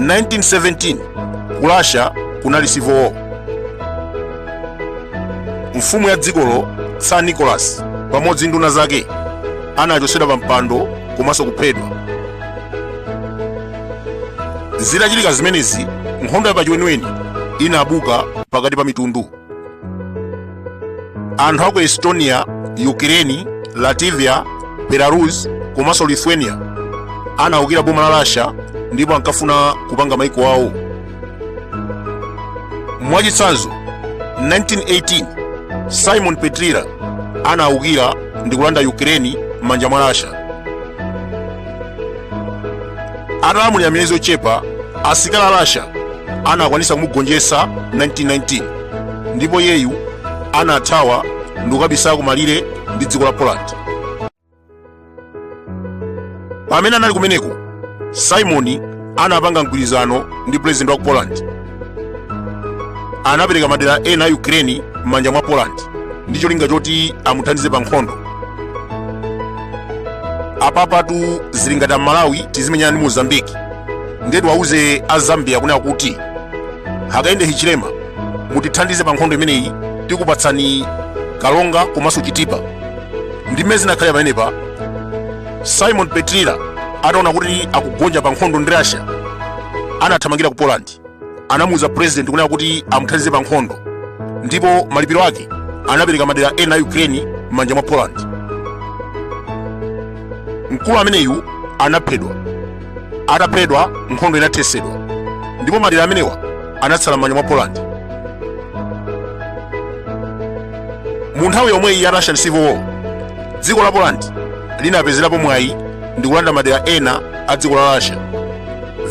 1917 ku russia kunali civil war mfumu ya dzikolo tsar nicholas pamodzi ndi nduna zake anachotsedwa pa mpando komanso kuphedwa zitachitika zimenezi nkhondo ya pachiweniweni inabuka pakati pa mitundu anthu aku estonia ukireni latvia belarus komanso lithuania anawukira boma la russia ndipo ankafuna kupanga maiko awo mwachitsanzo 1918 simon petliura anawukira ndi kulanda ukireni m'manja mwa russia atalamulira miyezi yochepa asilikali a russia anakwanisa kumugonjetsa 1919 ndipo iyeyu anathawa ndi kukabisala kumalire ndi dziko la poland pamene anali kumeneko simoni anapanga mgwirizano ndi pulezidenti wa ku poland anapereka madera ena a ukraine m'manja mwa poland ndi cholinga choti amuthandize pa nkhondo apapatu zili ngati amalawi tizimenyana ndi mozambiki ndetu awauze a zambia kunena kuti hakainde hichilema mutithandize pa nkhondo imeneyi tikupatsani karonga komanso chitipa ndi mmene zinakhalira pamenepa simon petliura ataona kuti akugonja pa nkhondo ndi russia anathamangira ku poland anamuuza president kunena kuti amuthandize pa nkhondo ndipo malipiro ake anapereka madera ena a ukraine m'manja mwa poland mkulu ameneyu anaphedwa ataphedwa nkhondo inathesedwa ndipo madera amenewa anatsala m'manja mwa poland mu nthawi yomweyi ya russian civil war dziko la poland linapezerapo mwayi ndi kulanda madera ena a dziko la russia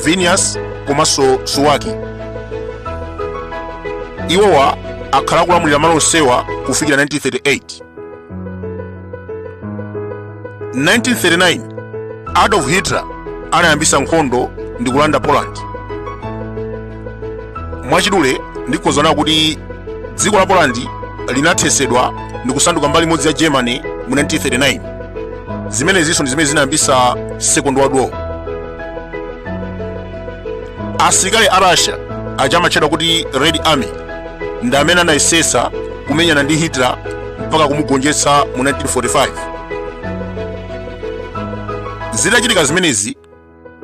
vilnius komanso suwalki iwowa akhala akulamulira malo onsewa kufikira 1938 1939 adolf hitler anayambisa nkhondo ndi kulanda poland mwachidule ndingonena kuti dziko la poland linathesedwa ndi kusanduka mbali imodzi ya germany mu 1939 zimenezinso ndi zimene zinayambisa second world war asilikali a russia aja amatchedwa kuti red army ndi amene anayesesa kumenyana ndi hitler mpaka kumugonjetsa mu 1945 zitachitika zimenezi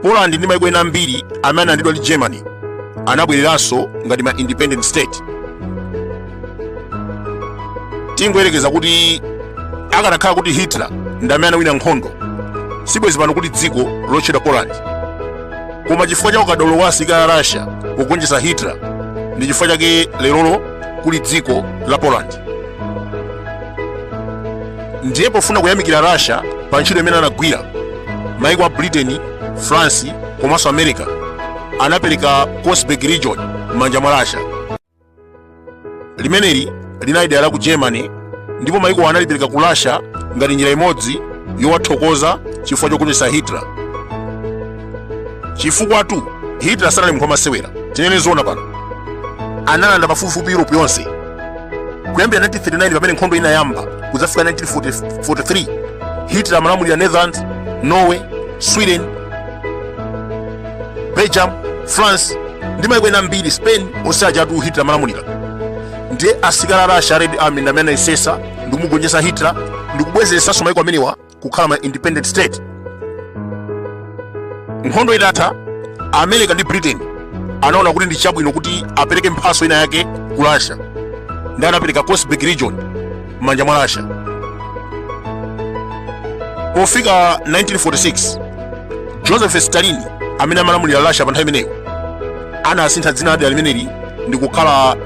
poland ndi maiko ena ambiri amene analandidwa ndi germany anabwereranso ngati ma independent state tingoyerekeza kuti akanakhala kuti hitler ndi amene anawina nkhondo sibwezi pano kuli dziko lotchedwa poland koma chifukwa cha ukadaulo wa asilikali a russia pogonjetsa hitler ndi chifukwa chake lerolino kuli dziko la poland ndiye pofuna kuyamikira russia pa ntchito imene anagwira maiko a britain france komanso america anapereka konigsberg region m'manja mwa russia limeneli linali dera la ku germany ndipo maikowa analipereka ku russia ngati njira imodzi yowathokoza chifukwa chogonjetsa hitler chifukwatu hitler sanali munthu wamasewera tinene zoona pano analanda pafupifupi europe yonse kuyambira 1939 pamene nkhondo inayamba kudzafika 1943 hitler amalamulira netherlands norway sweden belgium france ndi maiko ena ambiri spain onse ajatu hitler amalamulira ndiye asilikali a russia a red army ndi amene anayesesa ndi kumugonjetsa hitler ndi kubwezeretsanso maiko amenewa kukhala ma independent state nkhondo itatha america ndi britain anaona kuti ndi chabwino kuti apereke mphaso ina yake ku russia ndiye anapereka konigsberg region m'manja mwa russia pofika 1946 joseph stalin amene amalamulira russia pa nthawi imeneyo anasintha dzina la dera limeneli ndi kukhala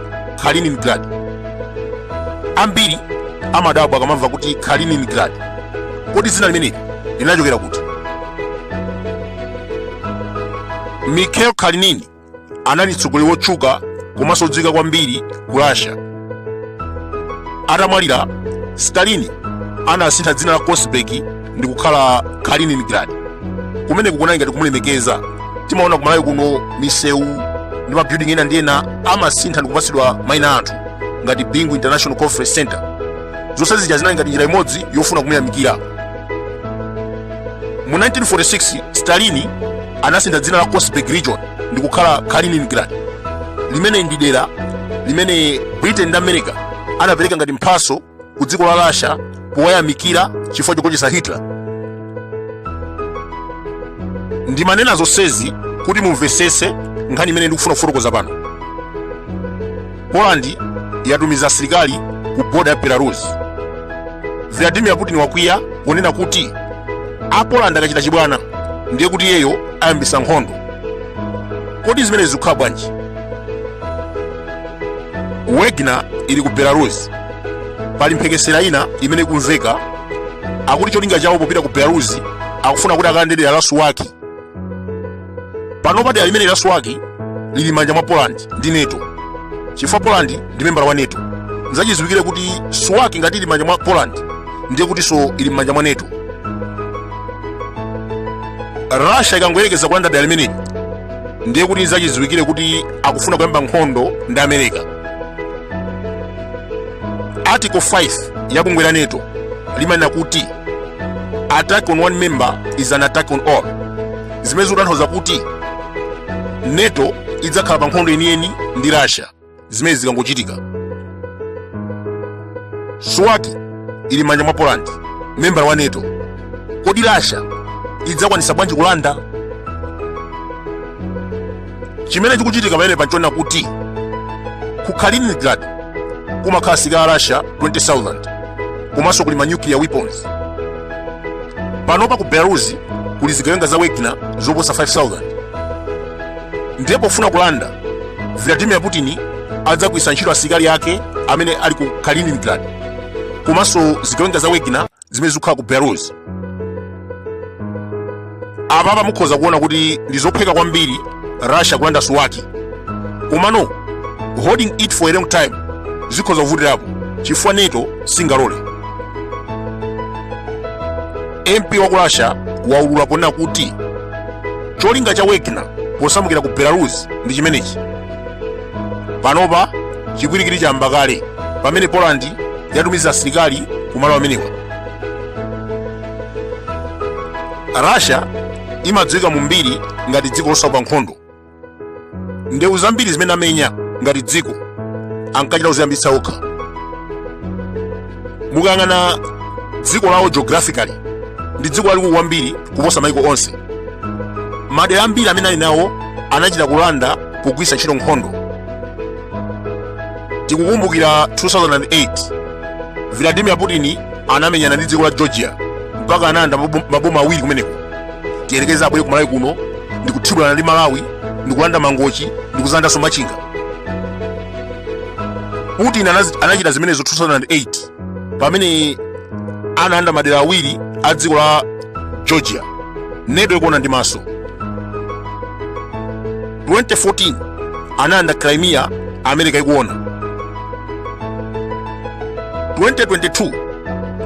kaliningrad ambiri amadabwa akamamva kuti kaliningrad kodi dzina limeneli linachokera kuti mikhail kalinin anali mtsogoleri wotchuka komanso odziwika kwambiri ku russia atamwalira stalin anasintha dzina la konigsberg ndi kukhala kaliningrad kumeneko kunali ngati kumulemekeza timaona ku malawi kuno misewu ndi mabuilding ena ndi ena amasintha ndi kupatsidwa maina a anthu ngati bingu international conference center zonse zija zinali ngati njira imodzi yofuna kumuyamikira mu 1946 stalini anasintha dzina la Konigsberg region ndi kukhala Kaliningrad limene ndi dera limene Britain ndi America anapereka ngati mphaso ku dziko la Russia powayamikira chifukwa chogonjetsa Hitler. Ndimanena zonsezi kuti mumvetsetse nkhani imene ndikufuna kufotokoza pano. Poland yatumiza asilikali ku boda ya Belarus. Vladimir Putin wakwiya ponena kuti a Poland akachita chibwana ndiye kuti iyeyo ayambisa nkhondo. Kodi zimenezi zikukhala bwanji? Wagner ili ku Belarus. Pali mphekesera ina imene ikumveka akuti cholinga chawo popita ku Belarus akufuna kuti akalande dera la Suwalki panopa dera limeneli la suwalki lili m'manja mwa poland ndi nato chifukwa poland ndi membala wa nato nzachidziwikire kuti suwalki ngati ili m'manja mwa poland ndiye kutinso ili m'manja mwa nato russia ikangoyerekeza kulanda dera limeneli ndiye kuti nzachidziwikire kuti akufuna kuyamba nkhondo ndi america article 5 ya bungwe la nato limanena kuti attack on one member is an attack on all zimene zikutanthauza kuti nato idzakhala pa nkhondo yeniyeni ndi russia zimene zikangochitika suwalki ili m'manja mwa poland membala wa nato kodi russia idzakwanitsa bwanji kulanda chimene chikuchitika pamenepa n'chonena kuti ku kaliningrad kumakhala asilikali a russia 20000 komanso kuli manuclear weapons panopa ku belarus kuli zigawenga za wagner zoposa 5000 ndiye pofuna kulanda vladimir putin adzagwiritsa ntchito asilikali ake amene ali ku kaliningrad komanso zigawenga za wagner zimene zikukhala ku belarus apapa mukhoza kuona kuti ndi zophweka kwambiri russia kulanda suwalki komano holding it for a long time zikhoza kuvutirapo chifukwa nato singalole mp wa ku russia waulula ponena kuti cholinga cha wagner posamukira ku belarus ndi chimenechi panopa chipwirikiti chayamba kale pamene poland yatumiza asilikali ku malo amenewa russia imadziwika mu mbiri ngati dziko losaopa nkhondo ndewu zambiri zimene amenya ngati dziko ankachita kuziyambitsa okha mukayang'ana dziko lawo geographically ndi dziko lalikulu kwambiri kuposa maiko onse madera ambiri amene ali nawo anachita kulanda pogwiritsa ntchito nkhondo tikukumbukira 2008 vladimir putin anamenyana ndi dziko la georgia mpaka analanda mabu- maboma awiri kumeneko tiyerekeze abwere ku malawi kuno ndikuthibulana ndi malawi ndikulanda mangochi ndikudzalandanso machinga putin anazi- anachita zimenezo 2008 pamene analanda madera awiri a dziko la georgia neto ikuona ndi maso 2014 analanda crimea america ikuona 2022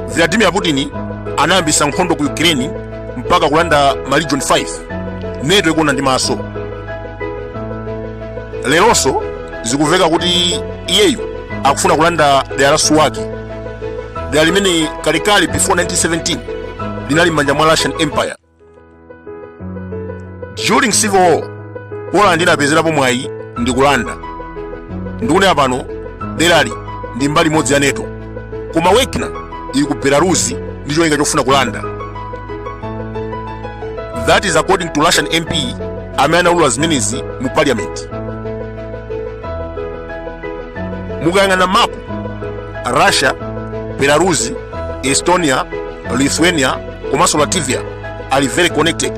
vladimir putin anayambisa nkhondo ku ukraine mpaka kulanda ma region 5 neto ikuona ndi maso leronso zikumveka kuti iyeyu akufuna kulanda dera la suwaki dera limene kalekale before 1917 linali m'manja mwa russian empire during civil war poland inapezerapo mwayi ndi kulanda ndikunena pano derali ndi mbali imodzi ya neto koma wagner ili ku belarus ndi cholinga chofuna kulanda that is according to russian mp amene anaulula zimenezi mu parliament mukayang'ana mapu russia belarus estonia lithuania komanso latvia ali very connected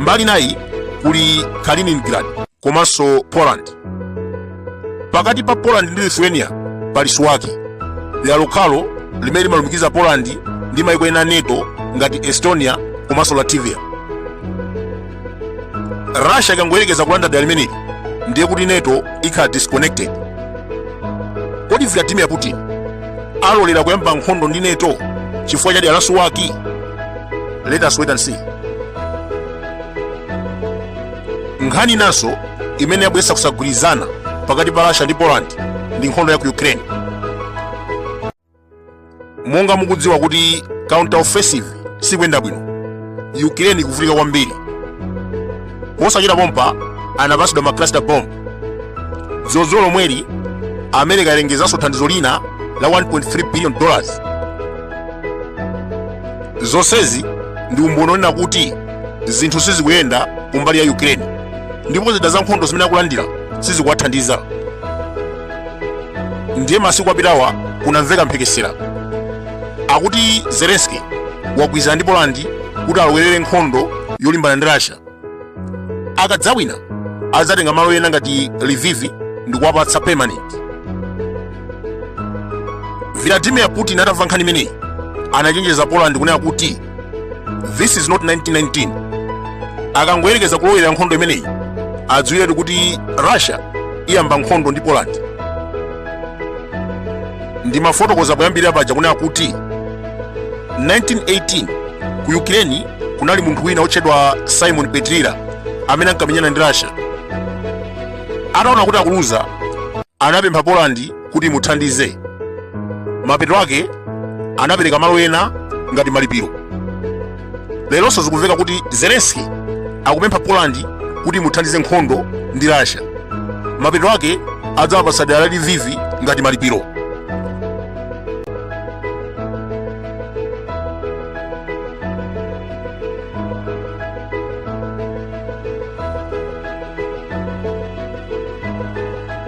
mbali nayi kuli kaliningrad komanso Poland. Pakati pa Poland ndi Lithuania pali Suwaki, dera lokhalo limene limalumikiza Poland ndi mayiko ena a NATO ngati Estonia komanso Latvia. Russia ikangoyerekeza kulanda dera limeneli ndiye kuti NATO ikhala disconnected. Kodi Vladimir Putin alolera kuyamba nkhondo ndi NATO chifukwa cha dera la Suwaki? Let us wait and see. nkhani inanso imene yabweretsa kusagwirizana pakati pa russia ndi poland ndi nkhondo ya ku ukraine monga mukudziwa kuti counter offensive sikuyenda bwino ukraine ikuvutika kwambiri mosachita pompa anapatsidwa ma cluster bomb dzulodzulo lomweli america yalengezanso thandizo lina la 1.3 billion dollars zonsezi ndi umboni onena kuti zinthu sizikuyenda kumbali ya ukraine ndipo zida za nkhondo zimene akulandira sizikuwathandiza ndiye masiku apitawa kunamveka mphekesera yakuti zelenski wagwirizana ndi polandi kuti alowerere nkhondo yolimbana ndi russia akadzawina adzatenga malo ena ngati livivi ndi kuwapatsa permanent vladimir putin atamva nkhani imeneyi anachenjeza poland kunena kuti this is not 1919 akangoyerekeza kulowerera nkhondo imeneyi adziwiretu kuti russia iyamba nkhondo ndi poland ndimafotokoza poyambirira paja kunena kuti 1918 ku ukraine kunali munthu wina wotchedwa simon petliura amene ankamenyana ndi russia ataona kuti akuluza anapempha polandi kuti imuthandize mapeto ake anapereka malo ena ngati malipiro leronso zikumveka kuti zelenski akupempha polandi kuti imuthandize nkhondo ndi russia mapeto ake adzawapatsa dera la livivi ngati malipiro